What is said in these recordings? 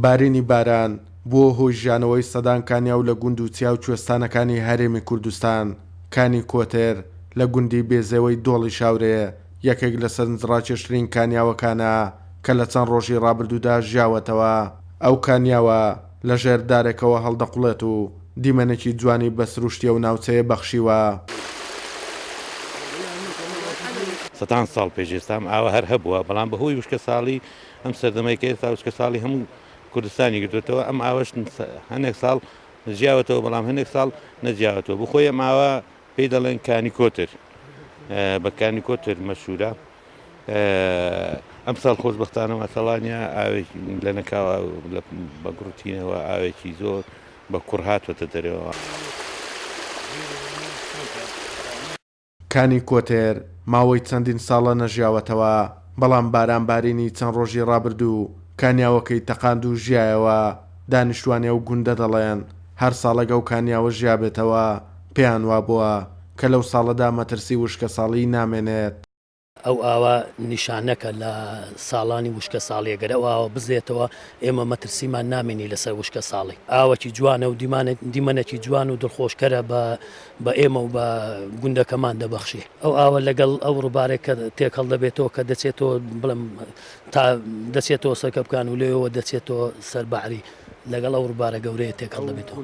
بارینی باران بووە هۆی ژیانەوەی سەدان کانیاو لە گوند و چیا و کوێستانەکانی هەرێمی کوردستان. کانی کۆتر لە گوندی بێزێوەی دۆڵی شاورێ یەکێک لە سەرنجڕاکێشترین کانیاوەکانە کە لە چەند ڕۆژی ڕابردوودا ژیاوەتەوە. ئەو کانیاوە، لە ژێر دارێکەوە هەڵدەقوڵێت و دیمەنێکی جوانی بە سروشتی ئەو ناوچەیە بەخشیوە. سەدان ساڵ پێش ئێستام ئاوە هەر هەبووە، بەڵام بە هۆی وشکەساڵی ئەم سەردەمەی کە ئێستا وشکەساڵی هەموو کوردستانی گرتۆتەوە ئەم ئاوەش هەنێک ساڵ جیاوەتەوە بەڵام هەنێک ساڵ نەجیاوەتەوە بۆ خۆی ئەم ئاوە پێی دەڵێن کانی کۆتر بە کانی کۆتر مەشورە. ئەمساڵ خۆشببختانە مەسەڵانیا ئاوێکی لە نەکاوە بە گڕوتینەوە ئاوێکی زۆر بە کوڕ هاتوەتە دەرەوە. کانی کۆتێر ماوەی چەندین ساڵە نەژیاوەتەوە، بەڵام بارانبارینی چەند ڕۆژی ڕابردوو کانیاوەکەی تەقاند و ژیایەوە، دانیشتوانی ئەو گوندە دەڵێن، هەر ساڵێک ئەو کانیاوە ژیابێتەوە پێیان وابووە کە لەو ساڵەدا مەترسی وشکەساڵیی نامێنێت. ئەو ئاوە نیشانەکە لە ساڵانی وشکە ساڵیە گەرە و ئاوە بزێتەوە ئێمە مەترسیمان نامێنی لەسەر وشکە ساڵی ئاوەکی جوانە و دیمەنێکی جوان و دڵخۆشکەرە بە بە ئێمە و بە گوندەکەمان دەبەخشێ ئەو ئاوە لەگەڵ ئەو ڕووبارێک کە تێکەڵ دەبێتەوە کە دەچێتەوە بڵم تا دەچێتەوە سەرکە بکان و لێەوە دەچێتەوە سەرباری لەگەڵ ئەو ڕووبارە گەورەیە تێکەڵ دەبێتەوە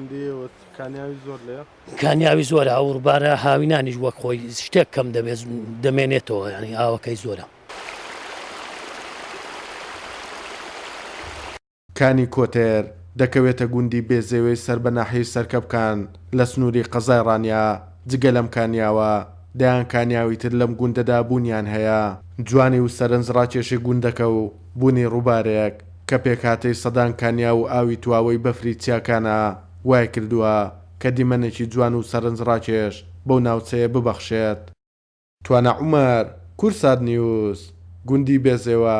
کانیاوی زۆرە ئەو ڕوبارە هاوینانیش وەک خۆی شتێک کەم دەبێت دەمێنێتەوە ینی ئاوەکەی زۆرە. کانی کۆتێر دەکەوێتە گوندی بێزێوێی سەر بە ناحیەی سەرکەپکان لە سنووری قەزای ڕانیە، جگە لەم کانیاوە دەیان کانیاوی تر لەم گوندەدا بوونیان هەیە. جوانی و سەرنج ڕاکێشی گوندەکە و بوونی ڕووبارێک کە پێکهاتەی سەدان کانیاو و ئاوی تواوەی بەفری چیاکانە وایکردووە، کە دیمەنێکی جوان و سەرنجڕاکێش بەو ناوچەیە ببەخشێت. توانا عومەر، کورسات نیوز، گوندی بێزێوە.